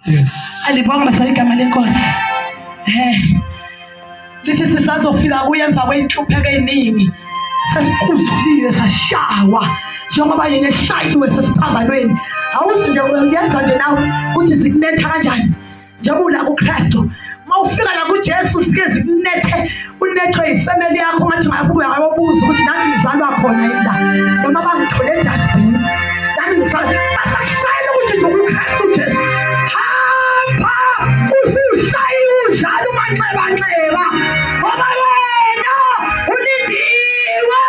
Yes. Alibonga sa igama lenkosi. Eh. Lesi sisazofika kuye emva kweyinhlupheko eziningi. Sesiquzulile sashawa njengoba yena eshayiwe sesiphambanweni. Awuzi nje uyenza nje nawe ukuthi sikunetha kanjani. Njengoba ula kuKristu uma ufika la kujesu zike zikunethe unethwe yifemeli yakho ungathi mayabuya wayobuza ukuthi nami ngizalwa khona yini la noma bangithole edasbini nami ngizalwa basashayela ukuthi nje ukukristu jesu hamba usushaye unjalo umanxebanxeba ngoba wena ulindiwe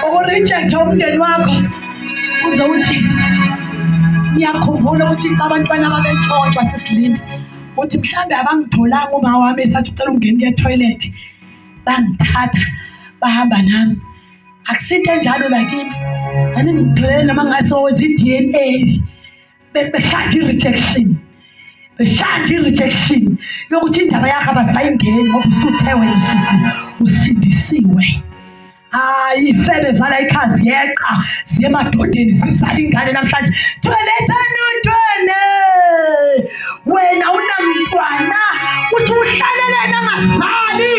ukurejectha umndeni wakho uze uthi ngiyakhumbula ukuthi abantwana babetshontshwa sisilinda uthi mhlawumbe abangitholanga uma wami esathi ucela ungena kuye toilethi bangithatha bahamba nami akusinto enjalo lakimi aningitholele noma ngase owenza i-d n a Be- beshaya nje i-rejection beshaya nje i-rejection yokuthi indaba yakho abasayingeni ngoba usuthe wena usisi usindisiwe hayi ifebe zala ikhaya ziyeqa ziye emadodeni zizala ingane namhlanje thwelethani uthwele wena unamntwana uthi uhlaleleni angazali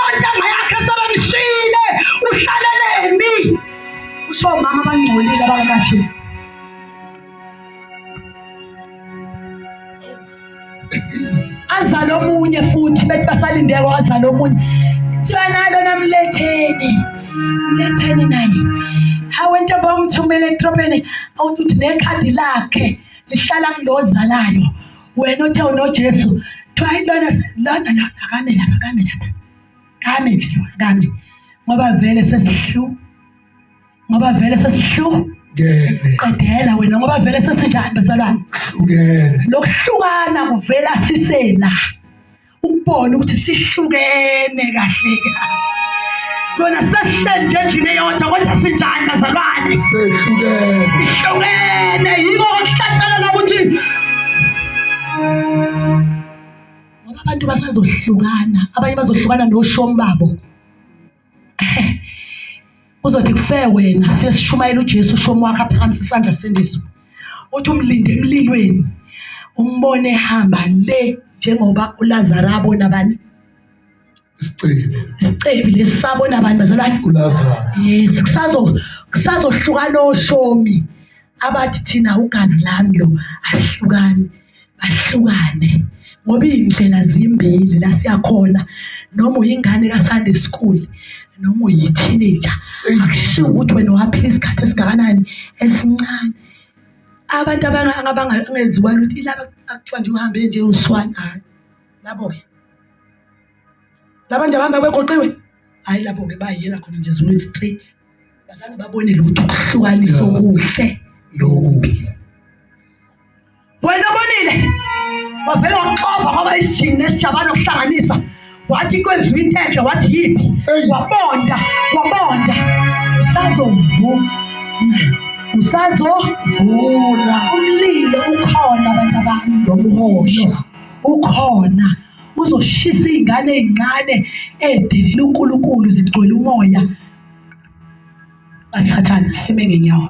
ontanga yakhe sebemshile uhlaleleni usho omama abangcolile abangakajesu azale omunye futhi bethi basalindeke wazale omunye kuthiwa nalo namletheni mletheni naye hawu entombi omthumela etrobeni awuthi uthi nekhadi lakhe lihlala kulozalayo wena othe unojesu kuthiwa ilona lona lona akame lapha akame lapha kame nje kame ngoba vele sesihluka ngoba vele sesihluku qedela wena ngoba vele sesinjani bezalwane lokuhlukana kuvela sisela ukubona ukuthi sihlukene kahle kahle lona sesihlende endlini eyodwa kodwa sinjani bazalwane sihlukene yiko okuhlatshelela ukuthi ngoba abantu basazohlukana abanye bazohlukana noshom babo uzothi kufe wena sife sishumayela uJesu ushomi wakhe aphakamisa isandla sendiso uthi umlinde emlilweni umbone ehamba le njengoba uLazaro abona bani isicebi isicebi lesabona abantu bazalwane uLazaro yes kusazo kusazohlukana oshomi abathi thina ugazi lami lo asihlukani bahlukane ngoba iy'ndlela zimbili la siyakhona noma uyingane ka-sunday school noma uyi-teenager akushiwo ukuthi wena waphila isikhathi esingakanani esincane abantu abangenziwa lutho ilaba akuthiwa nje uhambe nje uswane hhayi labo-ke labantu abahamba begoqiwe hhayi lapho-ke bayiyela khona nje ezulwini straight bazange babone lutho ukuhlukanisa okuhle nokubi wena obonile wavele wamxova ngoba isijingi nesijabane okuhlanganisa wathi kwenziwa into enhle wathi yiphi wabonda wabonda usazovuma usazovula umlilo ukhona abantu abantu nomhosha ukhona uzoshisa iy'ngane ey'ncane ey'delela unkulunkulu zigcwele umoya basathane sime ngenyawo